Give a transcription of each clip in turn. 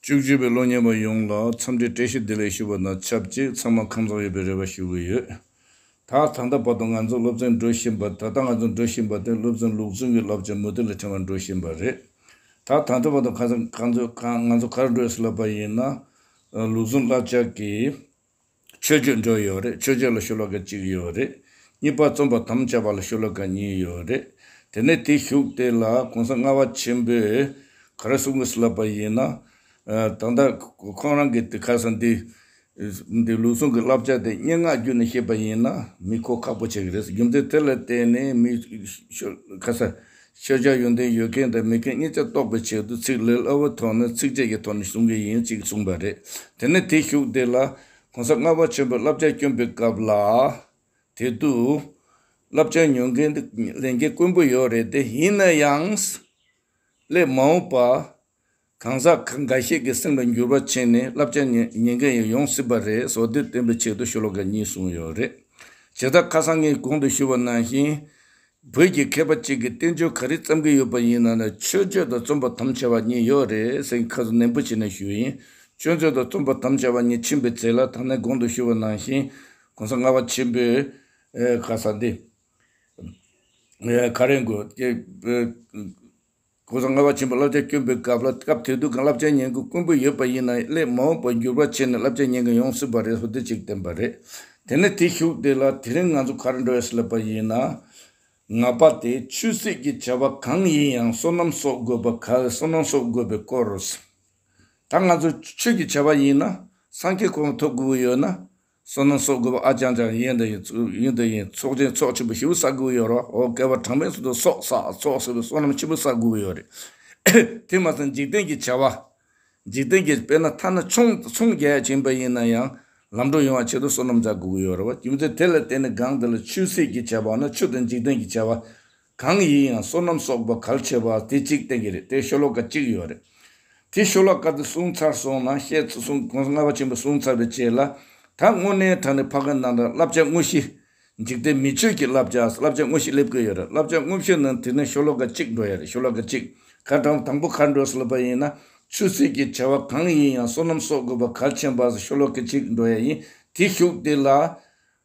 བཅུ་གཅིག་པའི་གློག་བརྙན་པ་ཡོངས་ལ་འཚམས་འདྲི་བཀྲ་ཤིས་བདེ་ལེགས་ཞུ་བ་དང་ཆབས་ཅིག་ཚང་མ་ཁམས་བཟང་ཡོད་པའི་རེ་བ་ཞུ་གི་ཡོད། ད་ད་ལྟ་བར་དུ་ང་ཚོ་སློབ་ཚན་འགྲོ་བཞིན་པ་ད་ལྟ་ང་ཚོ་འགྲོ་བཞིན་པ་དེ་སློབ་ཚན་ལུགས་མཚུངས་ཀྱི་བསླབ་བྱ་མུ་མཐུད་ལ་ཕྲེང་བ་འགྲོ་བཞིན་པ་རེད། ད་ད་ལྟ་བར་དུ་ཁ་ཚ་ཁ་འཛོལ་ང་ཚོ་གར་བགྲོད་སི་ལ་བ་ཡིན་ན་ལུགས་མཚུངས་བསླབ་བྱ་གི་ཆོས་རྒྱུད་འགྲོ་ཡོད་རེད་ཆོས་རྒྱུད་ལ་ཤུ་ལོ་ཀ་གཅིག་ཡོད་རེད་གཉིས་པ་རྩོམ་པ་དམ་བཅའ་བ་ལ་ཤུ་ལོ་ཀ་གཉིས་ཡོད་རེད་དེ་ནས་དེ་བཞུགས་དེ་ལ་གོང་ས་ལྔ་བ་ཆེན་པོས་ག་རེ་གསུང་གིས་ལབ་པ་ཡིན་ན། ད་ལྟ་ཁོང་རང་གིས་དེ་ཁ་སང་འདི་འདི་ལུགས་ཟུང་གི་བསླབ་བྱ་དེ་སྙན་ངག་བརྒྱུད་ནས་བཤད་པ་ཡིན་ན་མི་གོ་ཁག་པོ་བྱེད་ཀྱི་རེད་རྒྱུ་མཚན་དེ་ལ་བརྟེན་ནས་མི་ཤོ་ཁ་ས་ཤེས་བྱ་ཡོན་ཏན་ཡོད་མཁན་དང་མེད་མཁན་གཉིས་ཆ་རྟོགས་པའི་ཆེད་དུ་ཚིག་ལེ་ལོའི་ཐོག་ནས་ཚིགས་བཅད་ཀྱི་ཐོག་ནས་གསུང་གི་ཡིན་ཅིག་གསུངས་པ་རེད། དེ་ནས་དེ་བཞུགས་དེ་ལ། གོང་ས་ལྔ་བ་ཆེན་པོའི་བསླབ་བྱ་བསྐྱོན་པའི་སྐབས་ལ། དེ་དུས། བསླབ་བྱ་ཉོ་མཁན་དེ་ལས་འགན་དཀོན་པོ་ཡོད་རེད་དེ་ཡིན་ན་ཡང། སླད་མ་འོངས་པ། གང་ཟག་ཁག་འགའ་ཤས་ཀྱི་སེམས་ལ་འགྱུར་བ་ཕྱིན་ནས་བསླབ་བྱ་ཉན་མཁན་ཡང་ཡོང་སྲིད་པ་རེད་སོགས་དེར་བརྟེན་པའི་ཆེད་དུ་ཤོ་ལོ་ཀ་གཉིས་གསུངས་ཡོད་རེད། བྱེ་བདག་ཁ་སང་ངས་གོང་དུ་ཞུས་པ་ནང་བཞིན། བོད་ཀྱི་མཁས་པ་གཅིག་གིས་བསྟན་བཅོས་ག་རེ་བརྩམས་ཀྱི་ཡོད་པ་ཡིན་ནམ་ན་ཆོས་བརྗོད་དང་རྩོམ་པ་དམ་བཅའ་བ་གཉིས་ཡོད་རེད་ཟེར་ཁ་གསལ་ནན་པོ་བྱས་ནས་ཞུས་ཡིན། ཆོས་མཛོད་དང་རྩོམ་པ་དམ་བཅའ་བ་གཉིས་ཕྱིན་པའི་ཚེ་ལ་ད་ནས་གོང་དུ་ཞུས་པ་ནང་བཞིན། གོང་ས་ལྔ་བ་ཆེན་པོས་ཁ་གསལ་འདི་ག་རེ་འགོད། ཀུན་བཟང་ལྔ་བ་ཆེན་པོ་བསླབ་བྱ་བསྐྱོན་པའི་སྐབས་ལ་སྐབས་དེ་དུས་ཀྱང་བསླབ་བྱའི་ཉན་དགོས་དཀོན་པོ་ཡོད་པ་ཡིན་ན་སླད་མ་འོངས་པར་འགྱུར་བ་ཆེ་ནས་བསླབ་བྱ་ཉན་མཁན་ཡོང་སྲིད་པ་རེད་ཧོ་དེ་གཅིག་བསྟན་པ་རེད། དེ་ནས་དེ་བཞུགས་དེ་ལ་དེ་རིང་ང་ཚོ་གར་འགྲོ་ཡས་སླེབས་པ་ཡིན་ན། ང་པ་དེ་ཆོས་སྲིད་ཀྱི་བྱ་བ་གང་ཡིན་ཡང་བསོད་ནམས་གསོག་དགོས་པ་ག་ལ་བསོད་ནམས་གསོག་དགོས་པའི་སྐོར་རོ། ད་ང་ཚོ་ཆོས་ཀྱི་བྱ་བ་ཡིན་ན་སངས་རྒྱས་གོང་མ་ཐོབ་དགོས་ཀྱི་ཡོད་ན། བསོད་ནམས་གསོག་དགོས་པ་ཨ་ཅང་ཅང་ཡིན། ཡིན་དང་ཡིན། ཚོགས་ཆེན་ཚོགས་ཆེན་པོ་བཞི་པོ་བསགས་དགོས་ཡོད་རོགས་ཨོ་སྐལ་བ་གྲངས་མེད་སོགས་དུ་གསོག་བསགས་ཚོགས་ཟེར་བའི་བསོད་ནམས་ཆེན་པོ་བསགས་དགོས་ཡོད་རེད། དེ་མ་ཟད་འཇིག་རྟེན་གྱི་བྱ་བ། འཇིག་རྟེན་གྱི་དཔེར་ན་ཐ་ན་ཆུང་ཆུང་རྒྱལ་ཆེན་པོ་ཡིན་ན་ཡང་ལམ་འགྲོ་ཡོང་བ་ཆེད་དུ་བསོད་ནམས་བསགས་དགོས་ཡོད་རེད་རྒྱུ་མཚན་དེ་ལ་བརྟེན་ནས་སྒང་འདི་ལ་ཆུ་སྲིད་ཀྱི་བྱ་བ་ན་ཆུ་དང་འཇིག་རྟེན་གྱི་བྱ་བ། གང་ཡིན་ཡང་བསོད་ནམས་གསོག་པ་གལ་ཆེ་བ་དེ་གཅིག་བསྟན་གྱི་རེད་དེ་ཤོ་ལོ་ཀ་གཅིག་ཡོད་རེད། དེ་ཤོ་ལོ་ཀ་དེ་བསྲུང་ཚར་སོང་ན་བཤད་ཚུལ་སྲུང་གོང་ལྔ་བ་ཆེན་པོ་བསྲུང་ཚར་བའི་རྗེས་ལ་ད་དངོས་གནས་དྲ་ནས་ཕ་གི་ནང་དྲ་བསླབ་བྱ་དངོས་གཞི། འཇིག་རྟེན་མི་ཆོས་ཀྱི་བསླབ་བྱ་བསླབ་བྱ་དངོས་གཞི་སླེབས་ཀྱི་ཡོད་རེད་བསླབ་བྱ་དངོས་གཞི་ནང་དེ་ནི་ཤོ་ལོ་ཀ་གཅིག་འགྲོ་ཡ་རེད་ཤོ་ལོ་ཀ་གཅིག་ག་དྲང་དང་པོ་ཁ་འགྲོས་སློབ་པ་ཡིན་ན་ཆོས་སྲིད་ཀྱི་བྱ་བ་གང་ཡིན་ཡང་བསོད་ནམས་གསོག་དགོས་པ་གལ་ཆེན་པ་ཤོ་ལོ་ཀ་གཅིག་འགྲོ་ཡ་ཡིན་དེ་ཤུགས་དེ་ལ།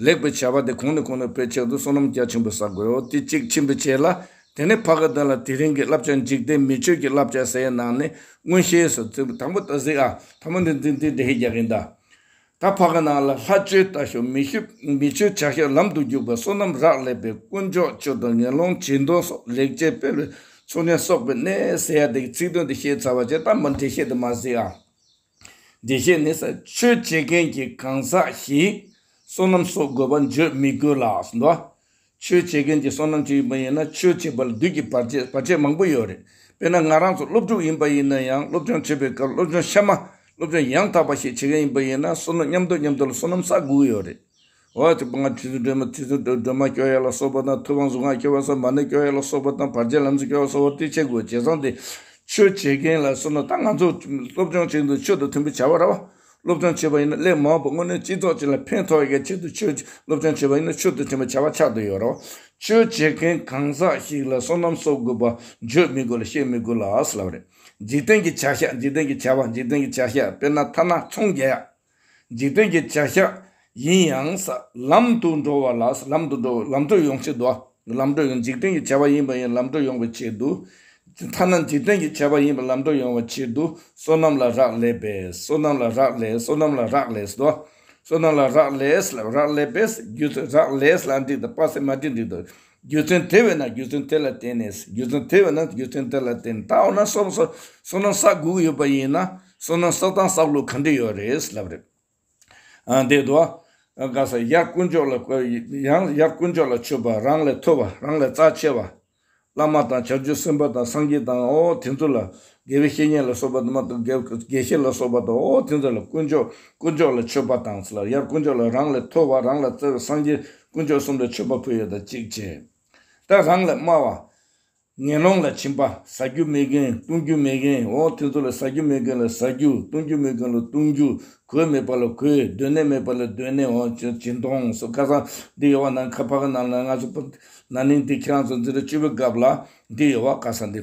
ལེགས་པའི་བྱ་བ་དེ་གོང་ནས་གོང་ནས་སྤེལ་ཕྱིར་དུ་བསོད་ནམས་རྒྱ་ཆེན་པོ་བསག་དགོས་དེ་གཅིག་ཆེན་པོས་བྱས་ལ། དེ་ནས་བྷ་ག་དོན་ལ་དེ་རིང་གི་བསླབ་བྱ་འཇིག་རྟེན་མི་ཆོས་ཀྱི་བསླབ་བྱ་སའི་ནང་ནས་མངོན་ཤེས་སུ་བརྩི། དང་པོ་ད་གཟིགས་ཨ། ད་མོ་འདི་འདི་འདི་འདི་ཧེ་རྒྱག་གིན་གདའ། ད་བྷ་ག་ནང་ལ་ལྷ་ཆོས་ལྟ་ཞོག་མི་ཤུ་མི་ཆོས་བྱ་ཞོག་ལམ་དུ་རྒྱུག་པ་བསོད་ནམས་རག་ལས་པའི་དཀོན་མཆོག་ཆོས་དང་ངན་སློང་བྱིས་མདོ་སོགས་ལེགས་བྱས་སྤེལ་བའི་ཚོགས་ཆེན་གསོག་པའི་གནས་ཟེར་ཡ་དེ་གི་ཚིག་དོན་དེ་ཤེས་ཚར་བ་བྱས་ད་མོ་འདི་ཤེས་དེ་མ་གཟིགས་ཨ། བདེ་གཤེགས་ནི་ས་ཆོས་སྤྱད་མཁན་གྱི་གང་ཟག་ཞིག་བསོད་ནམས་གསོག་དགོས་པ་བརྗོད་མི་དགོས་ལ། ས་ཆོས་སྤྱད་མཁན་གྱི་བསོད་ནམས་ཅིག་ཡིན་པ་ཡིན་ན་ཆོས་སྤྱད་པ་ལ་བདུད་ཀྱི་བར་ཆད་བར་ཆད་མང་པོ་ཡོད་རེད། དཔེར་ན་ང་རང་ཚོ་སློབ་ཕྲུག་ཡིན་པ་ཡིན་ན་ཡང་སློབ་སྦྱོང་བྱེད་པའི་སྐབས་སློབ་སྦྱོང་ཤ་མ་སློབ་སྦྱོང་ཡང་དག་པ་ཞིག་བྱེད་མཁན་ཡིན་པ་ཡིན་ན་བསོད་ནམས་མཉམ་དུ་མཉམ་དུ་ལ་བསོད་ནམས་བསག་དགོས་ཀྱི་ཡོད་རེད། འོག་གི་པང་ཁྲི་ཟུར་སྒྲོལ་མ་ཁྲི་ཟུར་སྒྲོལ་མ་སྐྱོ་ཡ་ལ་སོགས་པ་དང་ཐུབ་དབང་གཟུངས་སྔགས་སྐྱོ་བ་ས་མ་ནི་སྐྱོ་ཡ་ལ་སོགས་པ་དང་བར་ཆད་ལམ་གཟིགས་སྐྱོ་བ་སོགས་བསྟི་བྱའི་སྒོ་འབྱེད་གསང་སྟེ། ཆོས་བྱེད་མཁན་ལ་གསུངས་ན་ད་ང་ཚོ་སློབ་སྦྱོང་བྱེད་འདུག་ཆོས་དང་མཐུན་པའི་བྱ་བ་ར་བ་སློབ་སྦྱོང་བྱེད་པ་ཡིན་ན་སླད་མ་བབ་སྔོན་ནས་སྤྱི་ཚོགས་སྤྱི་ལ་ཕན་ཐོགས་ཡས་ཆེད་དུ་ཆོས་སློབ་སྦྱོང་བྱེད་པ་ཡིན་ན་ཆོས་དང་མཐུན་པའི་བྱ་བ་ཆགས་འདུག་ཡོད་ར་བ་ཆོས་བྱེད་མཁན་གང་ཟག་ཞིག་ལ་སོ་ནམ་གསོག་དགོས་པ་བརྗོད་མི་དགོས་ལ་བཤད་མི་དགོས་ལ་ཨ་སི་ལ་བ་རེད་འཇིག་རྟེན་གྱི་བྱ་བཞག་འཇིག་རྟེན་གྱི་བྱ་བ་འཇིག་རྟེན་གྱི་བྱ་བཞག་དཔེར་ན་ཐ་ན་ཚོང་རྒྱག་ཡ། འཇིག་རྟེན་གྱི་བྱ་བཞག་ཡིན་ཡང་ས་ལམ་དུ་འགྲོ་བ་ལ་ས་ལམ་དུ་འགྲོ་བའི་ལམ་གྲོད་ཡོང་ཆེད་དུ། ལམ་གྲོད་ཡོང་འཇིག་རྟེན་གྱི་བྱ་བ་ཡིན་པ་ཡིན་ལམ་གྲོད་ཡོང་བའི་ཆེད་དུ། ཐ་ན་འཇིག་རྟེན་གྱི་བྱ་བ་ཡིན་པ་ལམ་གྲོད་ཡོང་བའི་ཆེད་དུ་བསོད་ནམས་ལ་རག་ལས་པས་བསོད་ནམས་ལ་རག་ལས་བསོད་ནམས་ལ་རག་ལས་སོ། བསོད་ནམས་ལ་རག་ལས་ལ་རག་ལས་པས་རྒྱུ་རག་ལས་ལ་འགྲིག་ད་སྤ་སེ་མ་འགྲིག་འགྲིག་ད། རྒྱུ་མཚན་དེ་བས་ན་རྒྱུ་མཚན་དེ་ལ་བརྟེན་ནས་རྒྱུ་མཚན་དེ་བས་ན་རྒྱུ་མཚན་དེ་ལ་བརྟེན་ནས་ད་འོ་ན་སོ་སོ་སོ་ནམ་ས་དགུ་ཡོད་པ་ཡིན་ན་སོ་ནམ་ས་དང་ས་ལུག་གང་འདྲ་ཡོད་རེད་ལབ་རེད། ཨ་འདི་དུ་ཨ་ག་ས་ཡར་དཀོན་མཆོག་ལ་ཡང་ཡར་དཀོན་མཆོག་ལ་མཆོད་པ་རང་ལས་མཐོ་བ་རང་ལས་རྩ་ཆེ་བ་བླ་མ་དང་བྱབ་ཆོས་སེམས་དཔའ་དང་སངས་རྒྱས་དང་ཨོ་དེ་ཚོ་ལ་དགེ་བའི་བཤེས་གཉེན་ལ་སོགས་པ་དུ་མ་དང། དགེ་བཤེས་ལ་སོགས་པ་དང། འོ་དེ་ཚོ་ལ་དཀོན་མཆོག། དཀོན་མཆོག་ལ་མཆོད་པ་དང། ལ་ཡར་དཀོན་མཆོག་ལ་རང་ལས་མཐོ་བ་རང་ལ་བརྩེ་བའི་སངས་རྒྱས་དཀོན་མཆོག་གསུམ་ལ་མཆོད་པ་ཕུལ་ཡོད་དང་གཅིག་བྱས། ད་རང་ལས་དམའ་བ། ངན་སློང་ལ་བྱིན་པ། ཟ་རྒྱུ་མེད་མཁན་བཏུང་རྒྱུ་མེད་མཁན་འོ་དེ་ཚོ་ལ་ཟ་རྒྱུ་མེད་མཁན་ལ་ཟ་རྒྱུ་བཏུང་རྒྱུ་མེད་མཁན་ལ་བཏུང་རྒྱུ་གོས་མེད་པ་ལ་གོས་སྡོད་གནས་མེད་པ་ལ་སྡོད་གནས་འོ་སྦྱིན་གཏོང་སོགས་ཁ་སང་འདི་ཡོད་བ་ནང་ཁ་ཕ་གི་ནང་ན་ང་ཚོ་ན་ནིང་འདི་ཁྱེད་རང་ཚོ་འཛིན་གྲྭ་བཅུ་པའི་སྐབས་ལ་འདི་ཡོད་བ་ཁ་སང་འདི།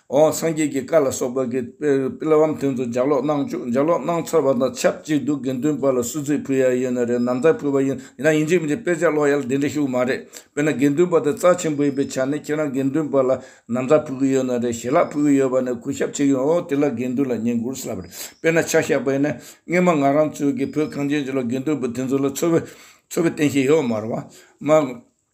འོང་སངས་རྒྱས་ཀྱི་བཀའ་ལ་སོགས་པ་གི་པི་ལ་བམ་དོན་དུ་ལྗགས་ཀློག་གནང་བཅུག་ལྗགས་ཀློག་གནང་ཚར་བ་དང་ཆབས་ཅིག་དུ་དགེ་འདུན་པ་ལ་སུ་ཚིག་ཕུལ་ཡག་ཡོད་ན་རེད་ནམ་ད་ཕུལ་བ་ཡིན་ན་ཡིན་གཅིག་མིན་གཅིག་དཔེ་ཆ་ཀློག་ཡག་ལ་དེ་འདྲ་ཞུགས་མ་རེད་དཔེར་ན་དགེ་འདུན་པ་དེ་རྩ་ཆེན་པོ་ཡིན་པའི་ཆ་ནས་ཁྱེད་རང་དགེ་འདུན་པ་ལ་ནམ་ད་ཕུལ་གི་ཡོད་ན་རེད་ཞེ་ལག་ཕུལ་གི་ཡོད་པ་ནས་གུས་ཞབས་བྱེད་ཀྱི་ཡོང་དེ་ལ་དགེ་འདུན་ལ་ཉན་དགོས་ས་རེད་དཔེར་ན་ཆ་ཤས་པ་ཡིན་ན་སྔན་མ་ང་རང་ཚོའི་གི་བོད་གངས་ཅན་ཅན་ལ་དགེ་འདུན་པ་དེ་ཚོ་ལ་འཚོ་བའི་འཚོ་བའི་རྟེན་ཞིག་ཡོད་མ་རེད་བ།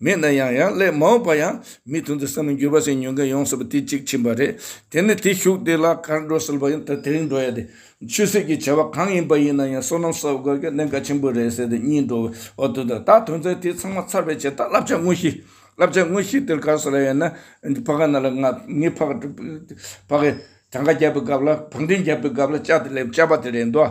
མེད་ན་ཡང་ཡང་སླད་མ་འོངས་པ་ཡང་མི་མཐུན་དུ་བསམ་མི་འགྱུར་བ་ཞིག་ཉོན་མཁན་ཡོང་སྲིད་པ་དེ་གཅིག་ཕྱིན་པ་རེད། དེ་ནི་དེ་ཞུགས་དེ་ལ་གར་འགྲོ་སྲིད་པ་ཡིན་ད་དེ་རིང་འགྲོ་ཡ་དེ་ཆོས་སྲིད་ཀྱི་བྱ་བ་གང་ཡིན་པ་ཡིན་ན་ཡང་སོ་ནམ་ས་བརྒལ་གྱི་གནད་འགག་ཆེན་པོ་རེད་ཟེར་ཏེ་གཉིད་འགྲོ་བ་དེ་དང་ད་དོན་ཚན་དེ་ཚང་མ་ཚར་བའི་ཆེད་ད་བསླབ་བྱ་དངོས་གཞི། བསླབ་བྱ་དངོས་གཞི་དེར་ག་ས་ལ་ཡོད་ན་ཕ་ག་ན་ལ་ང་ངས་ཕ་ག་ཕ་གའི་གྲངས་ཀ་རྒྱབ་པའི་སྐབས་ལ་བག་འགྲེམས་རྒྱབ་པའི་སྐབས་ལ་བཅའ་དེ་སླེབས་བཅའ་པ་དེ་རེད་འདོད།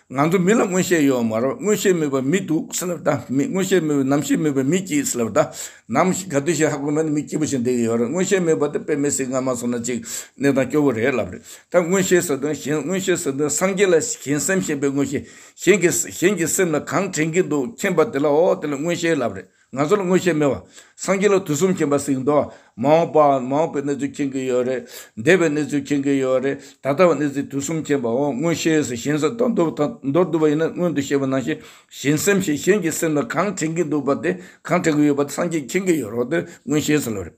ང་ཚོ་མི་ལ་མངོན་ཤེས་ཡོད་མ་རེད་མངོན་ཤེས་མེད་པ་མི་འདུག་སེ་ལ་བལྟ་མི་མངོན་ཤེས་མེད་པའི་ནམ་ཞིག་མེད་པའི་མི་སྐྱིད་སེ་ལ་བལྟ། ནམ་ཞིག་ག་དུས་ཤིག་ཧ་གོ་མེད་ན་མི་སྐྱིད་པོ་ཞིག་འདེད་ཀྱི་ཡོད་རེད་མངོན་ཤེས་མེད་པ་དེ་དཔེ་མེད་སེ་ང་མ་སོང་ན་ཅིག་གནས་སྟངས་སྐྱོ་བོ་རེད་ལབ་རེད་ད་མངོན་ཤེས་ཟེར་དོན་གཞན་མངོན་ཤེས་ཟེར་དོན་སངས་རྒྱས་ལ་གཞན་སེམས་ཞེན་པའི་མངོན་ཤེས་གཞན་གྱི་གཞན་གྱི་སེམས་ལ་གང་དྲན་གྱི་འདུག་མཁྱེན་པ་དེ་ལ་འོ་དེ་ལ་མངོན་ཤེས་ལབ་རེད། ང་ཚོ་ལ་མངོན་ཤེས་མེད་པ། སངས་རྒྱས་ལ་དུས་གསུམ་མཁྱེན་པ་ཟིག་མདོག་ཨ། མ་འོངས་པ། མ་འོངས་པའི་གནས་ཚུལ་མཁྱེན་གྱི་ཡོད་རེད། འདས་པའི་གནས་ཚུལ་མཁྱེན་གྱི་ཡོད་རེད། ད་ལྟ་བའི་གནས་ཚུལ་དུས་གསུམ་མཁྱེན་པའོ། མངོན་ཤེས་སུ་གཞན་སེམས་དང་མདོར་བསྡུ་བ་ཡིན་ན་སྔོན་དུ་ཤེས་པ་ནང་བཞིན་གཞན་སེམས་ཤེས་གཞན་གྱི་སེམས་ལ་གང་དྲན་གྱི་འདུག་པ་དེ་གང་དྲན་གྱི་ཡོད་པ་དེ་སངས་རྒྱས་མཁྱེན་གྱི་ཡོད་རོགས་དོན་མངོན་ཤེས་སུ་ལོས་རེད།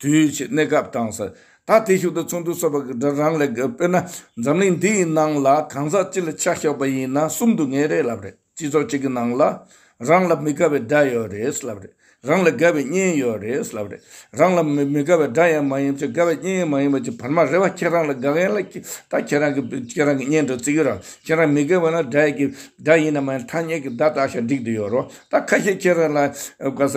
དུས་ཀྱི་གནས་སྐབས་དང་ས་ད་ལྟའི་ཤུགས་དང་མཚུངས་དུ་གསོད་པར་སྒྲ་རང་ལས་དགོས་དཔེར་ན་འཛམ་གླིང་འདི་ཡི་ནང་ལ་གང་ཟག་གཅིག་ལ་ཆ་ཞོག་པ་ཡིན་ན་གསུམ་དུ་ངེས་རེད་ལབ་རེད་སྤྱི་ཚོགས་གཅིག་གི་ནང་ལ་རང་ལ་མི་དགའ་བའི་སྒྲ་ཡོད་རེད་ལབ་རེད་རང་ལ་དགའ་བའི་བརྙན་ཡོད་རེད་ལབ་རེད་རང་ལ་མི་དགའ་བའི་སྒྲ་ཡང་མ་ཡིན་ཅིང་དགའ་བའི་བརྙན་ཡང་མ་ཡིན་པ་ཅིག་བར་མ་རེད་བ་ཁྱེད་རང་ལ་དགའ་མཁན་ལ་ད་ཁྱེད་རང་གི་ཁྱེད་རང་གི་བརྙན་དུ་བརྩི་གི་རང་ཁྱེད་རང་མི་དགའ་བ་ན་སྒྲ་ཡི་གི་སྒྲ་ཡིན་ནམ་མ་ཡིན་ཐ་སྙད་ཀྱི་བརྡ་བཏགས་ཤིང་བསྒྲིགས་དུ་ཡོད་རོགས་ད་ཁ་ཤས་ཁྱེད་རང་ལ་དགའ་ས་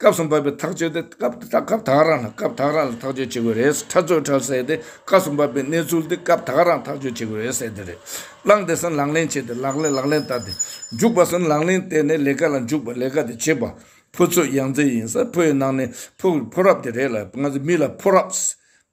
སྐབས་སུ་བབ་པའི་ཐག་གཅོད་དེ་སྐབས་དེ་དག་སྐབས་དག་རང་དང་སྐབས་དག་རང་ལ་ཐག་གཅོད་བྱེད་དགོས་རེད། ཁྲ་ཚོས་ཁྲ་བསལ་ཏེ་སྐབས་སུ་བབ་པའི་གནས་ཚུལ་དེ་སྐབས་དག་རང་ཐག་གཅོད་བྱེད་དགོས་རེད་ཟེར་དེ་རེད། བླངས་དེ་སེམས་ལག་ལེན་བྱས་ཏེ་ལག་ལེན་ལག་ལེན་བསྟར་ཏེ། འཇུག་པ་སེམས་ལག་ལེན་བསྟེན་ནས་ལས་ཀ་ལ་འཇུག་པ་ལས་ཀ་དེ་བྱེད་པ། ཕོ་ཚོད་ཡང་རྩེ་ཡིན་ས་ཕོ་ཡི་ནང་ནས་ཕོ་བའི་ཕོ་རབས་དེ་རེད་ལ་ང་ཚོ་མི་ལ་ཕོ་རབས།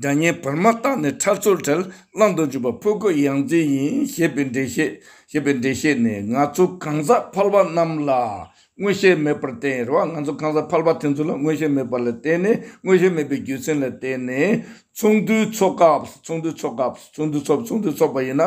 སྒྲ་སྙན་བར་མ་བཏགས་ནས་ཁྲར་ཚུར་བྲལ་བླང་དུ་འཇུག་པ་ཕོ་རྒོད་ཡང་རྩེ་ཡིན་ཞེས་པའི་འགྲེལ་བཤད་པའི་འགྲེལ་བཤད་ནི་ང་ཚོ་གང་ཟག་ཕལ་པ་རྣམས་ལ་མངོན་ཤེས་མེད་པར་བརྟེན་རེད་བ་ང་ཚོ་གང་ཟག་ཕལ་པ་དེ་ཚོ་ལ་མངོན་ཤེས་མེད་པ་ལ་བརྟེན་ནས་མངོན་ཤེས་མེད་པའི་རྒྱུ་མཚན་ལ་བརྟེན་ནས་ཚོགས་འདུའི་ཚོགས་སྐབས་ཚོགས་འདུའི་ཚོགས་སྐབས་ཚོགས་འདུའི་ཚོགས་འདུའི་ཚོགས་པ་ཡིན་ན་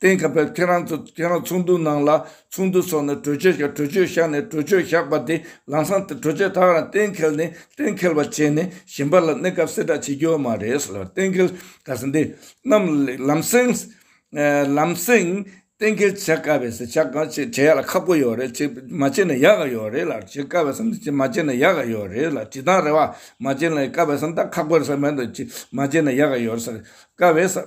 གཏན་འཁེལ་བས་ཁྱེད་རང་ཚོ་ཁྱེད་རང་ཚོགས་འདུ་ནང་ལ་ཚོགས་འདུ་འཚོགས་ནས་གྲོས་ཆོད་བཞག་གྲོས་ཆོད་བཞག་ནས་གྲོས་ཆོད་བཞག་པ་དེ་ལང་སང་དེ་གྲོས་ཆོད་དག་རང་གཏན་འཁེལ་ནས་གཏན་འཁེལ་བ་བྱས་ནས་གཞན་པ་ལ་གནས་སྐབས་གསལ་བསྒྲགས་བྱེད་རྒྱུ་མ་རེད་ཟེར་བ་གཏན་འཁེལ་ག་ས་འདི་རྣམས་ལམ་སེང་ལམ་སེང་གཏན་འཁེལ་བྱ་དཀའ་བས་ཟེར་བྱ་གང་བྱེད་བྱེད་ཡག་ལ་ཁག་པོ་ཡོད་རེད་བྱེད་མ་བྱེད་ནས་ཡག་ག་ཡོད་རེད་ལ་བྱེད་དཀའ་བས་སམ་བྱེད་མ་བྱེད་ནས་ཡག་ག་ཡོད་རེད་ལ་བྱེད་དང་རེད་བ་མ་བྱེད་ནས་དཀའ་བས་སམ་དང་ཁག་པོ་རེད་ས་མེད་དོ་བྱེད་མ་བྱེད་ནས་ཡག་ག་ཡོད་རེད་ས་རེད་དཀའ་བས་ས།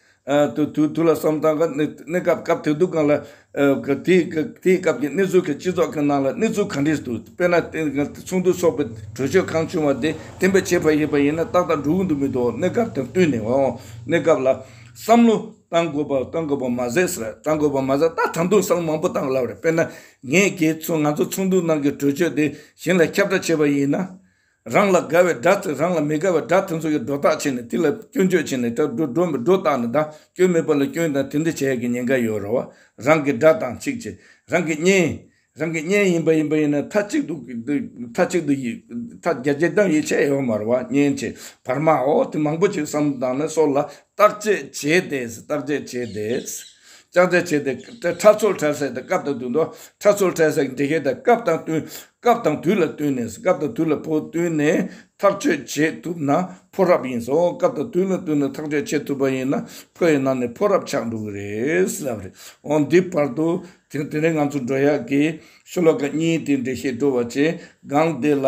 དུས་ལ་བསམ་ཙང་གི་གནས་སྐབས་སྐབས་དེ་དུས་གང་ལ་དེའི་སྐབས་ཀྱི་གནས་ཚུལ་གྱི་སྤྱི་ཚོགས་ཀྱི་ནང་ལ་གནས་ཚུལ་གང་འདྲས་འདུག་དཔེར་ན་ཚོགས་འདུ་འཚོགས་པའི་གྲོས་ཆོད་གང་བྱུང་བ་དེ་དེ་འབའ་བྱས་པ་ཡིན་པ་ཡིན་ན་ཏག་ཏག་འགྲོ་གི་འདུག་མི་འདུག་གནས་སྐབས་དང་བསྟུན་ནས་འོང་གནས་སྐབས་ལ་བསམ་བློ་གཏང་དགོས་པ་གཏང་དགོས་པ་མ་ཟད་གཏང་དགོས་པ་མ་ཟད་ད་དང་དུང་བསམ་བློ་མང་པོ་གཏང་ལབ་རེད་དཔེར་ན་ངས་ཁྱེད་ཚོ་ང་ཚོ་ཚོགས་འདུའི་ནང་གི་གྲོས་ཆོད་དེ་གཞན་ལ་ཁྱབ་བསྒྲགས་བྱས་པ་ཡིན་ན། རང་ལ་དགའ་བའི་སྒྲ་དེ་རང་ལ་མི་དགའ་བའི་སྒྲ་དེ་ཚོ་ཡི་སྒྲོ་བཏགས་བྱས་ནས་དེ་ལ་སྐྱོན་བརྗོད་བྱས་ནས་སྒྲ་སྒྲོ་མི་སྒྲོ་བཏགས་ནས་སྒྲ་སྐྱོན་མེད་པ་ལ་སྐྱོན་དང་དེ་འདྲ་བྱ་ཡག་གི་ཉེན་ཁ་ཡོད་རོ། རང་གི་སྒྲ་དང་ཚིག་བཅས་རང་གི་བརྙན། རང་གི་བརྙན་ཡིན་པ་ཡིན་པ་ཡིན་ན་མཐའ་གཅིག་ཏུ། མཐའ་གཅིག་ཏུ་ཡིད། མཐའ་རྒྱ་ཇེ་བསྡམས་ཡིད་ཆེས་ཡོད་མ་རོ་བ་བརྙན་བཅས་བར་མའོ་དེ་མང་པོ་ཅིག་བསམ་བཏང་ནས་སོར་ལ། བརྟག་དཔྱད་བྱས་ཏེ། བརྟག་དཔྱད་བྱས་ཏེ། བརྟག་དཔྱད་བྱས་ཏེ། ཁྲ་ཚོལ་ཁྲལ་སེལ་དང་སྐབས་དང་དུས་ལ། ཁྲ་ཚོལ་ཁྲལ་སེལ་གྱི་འདྲི་གཞི་དང་སྐབས་དང་བསྟུན། སྐབས་དང་དུས་ལ་བསྟུན་ནས། སྐབས་དང་དུས་ལ་ཕོ་བསྟུན་ནས་ཐག་གཅོད་བྱེད་ཐུབ་ན་ཕོ་རབ་ཡིན། སྐབས་དང་དུས་ལ་བསྟུན་ནས་ཐག་གཅོད་བྱེད་ཐུབ་པ་ཡིན་ན་ཕོ་ཡི་ནང་ནས་ཕོ་རབ་ཆགས་འགྲོ་གི་རེད། ལབ་རེད། འོ་འདི་བར་དུ། དེ་རིང་ང་ཚོ་འགྲོ་ཡག་གི། ཤོ་ལོ་ཀ་གཉིས་དེའི་འགྲེལ་བཤད་བྲོ་བ་བྱས། སྒང་དེ་ལ།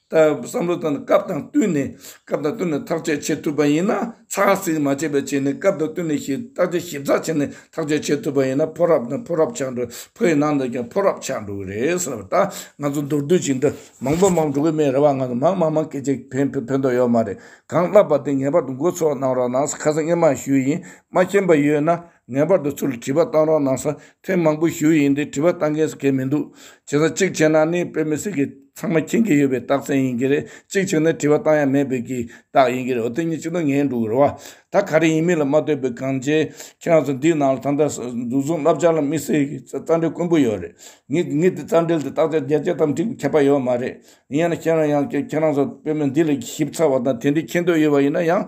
བསམ་བློ་དང་སྐབས་དང་བསྟུན་ནས་སྐབས་དང་བསྟུན་ནས་ཐག་གཅོད་བྱེད་ཐུབ་པ་ཡིན་ན་ཚགས་ཚིག་མ་བྱས་པའི་ཆེད་ནས་སྐབས་དང་བསྟུན་ནས་བརྟག་དཔྱད་ཞིབ་ཚགས་བྱས་ནས་ཐག་གཅོད་བྱེད་ཐུབ་པ་ཡིན་ན་ཕོ་རབ་དང་ཕོ་རབ་ཆགས་འགྲོ་ཕོ་ཡི་ནང་དུ་ཀྱང་ཕོ་རབ་ཆགས་འགྲོ་གི་རེད་ཟེར་བ་ལྟར་ང་ཚོ་མདོར་བསྡུས་ཀྱིས་འདི་མང་པོ་མང་པོ་འགྲོ་གི་མེད་རེད་བ་ང་ཚོ་མང་མང་མང་སྐད་ཆ་ཕན་ཕན་ཐོགས་ཡོད་མ་རེད་གང་བསླབས་པ་དེ་ངེས་པར་དུ་འགོ་ཚོགས་གནང་རོགས་གནང་སྐལ་བཟང་སྙེ་མ་ཞུ་ཡིན་མ་མཁྱེན་པ་ཡོད་ན། ངེས་པར་དུ་ཚུར་བྲིས་པ་བཏང་རོགས་གནང་ས་ཐེངས་མང་པོ་ཞུས་ཡིན་དེ་བྲིས་པ་བཏང་མཁན་སུ་གལ་མི་འདུག་བྱས་ཙང་གཅིག་བྱས་ན་ནི་དཔེ་མི་སྲིད་ཀི་ཚང་མ་མཁྱེན་གི་ཡོད་པའི་རྟགས་མཚན་ཡིན་གི་རེད་གཅིག་བྱས་ན་བྲིས་པ་བཏང་ཡ་མེད་པའི་གི་རྟགས་ཡིན་གི་རེད་འོ་དེ་གཉིས་གཅིག་ཏུ་ངེས་འགྲོ་གི་རེད་བ་ད་ག་རེ་ཡིན་མིན་ལ་མ་ལྟོས་པའི་གང་བྱས་ཁྱེད་རང་ཚོ་འདིའི་ནང་ལ་ད་ལྟ་འཛུགས་བཟུང་བསླབ་བྱ་ལ་དམིགས་བསལ་གི་རྩ་འགྲེལ་དཀོན་པོ་ཡོད་རེད་ངེད་ཀྱི་རྩ་འགྲེལ་དེ་བརྟག་དཔྱད་རྒྱ་ཆེ་ཙམ་བསྒྲིགས་ཁྱད་པ་ཡོད་མ་རེད་ཡིན་ཡང་ཁྱེད་རང་ཡང་ཁྱེད་རང་ཚོ་དཔེ་མི་འདི་ལ་ཞིབ་ཚགས་བ་དང་དེ་འདྲའི་མཁྱེན་འདོད་ཡོད་པ་ཡིན་ན་ཡང།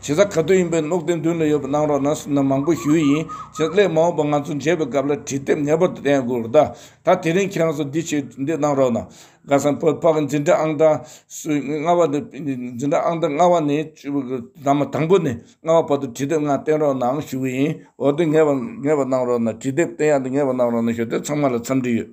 བྱེད་ས་ག་དུས་ཡིན་པའི་བློ་བརྟན་དུས་ལ་ཡོད་པ་གནང་རོགས་གནང་ཟེར་ན་མང་པོ་ཞུ་ཡི་ཡིན་བྱས་ཙ་ལས་མ་འོངས་པ་ང་ཚོ་མཇལ་བའི་སྐབས་ལ་དྲི་དེབ་ངེས་པར་དུ་ལྡན་དགོས་རེད་ད་ད་དེ་རིང་ཁྱེད་རང་ཚོ་འདི་བྱས་འདི་གནང་རོགས་གནང། ག་ས་བོད་ཕག་གི་འཛིན་གྲྭ་ཨང་གྲངས་སུ་ལྔ་བ་ནི་འཛིན་གྲྭ་ཨང་གྲངས་ལྔ་བ་ནི་བདག་མ་དང་པོ་ནས་ལྔ་བ་བར་དུ་དྲི་དེབ་ལྔ་བསྟན་རོགས་གནང་ཞུ་གི་ཡིན་འོ་དེ་ངེས་པ་ངེས་པ་གནང་རོགས་གནང་དྲི་དེབ་བསྟན་ཡག་འདི་ངེས་པ་གནང་རོགས་གནང་ཞུ་དེ་ཚང་མ་ལ་འཚམས་འདྲི་ཡོད།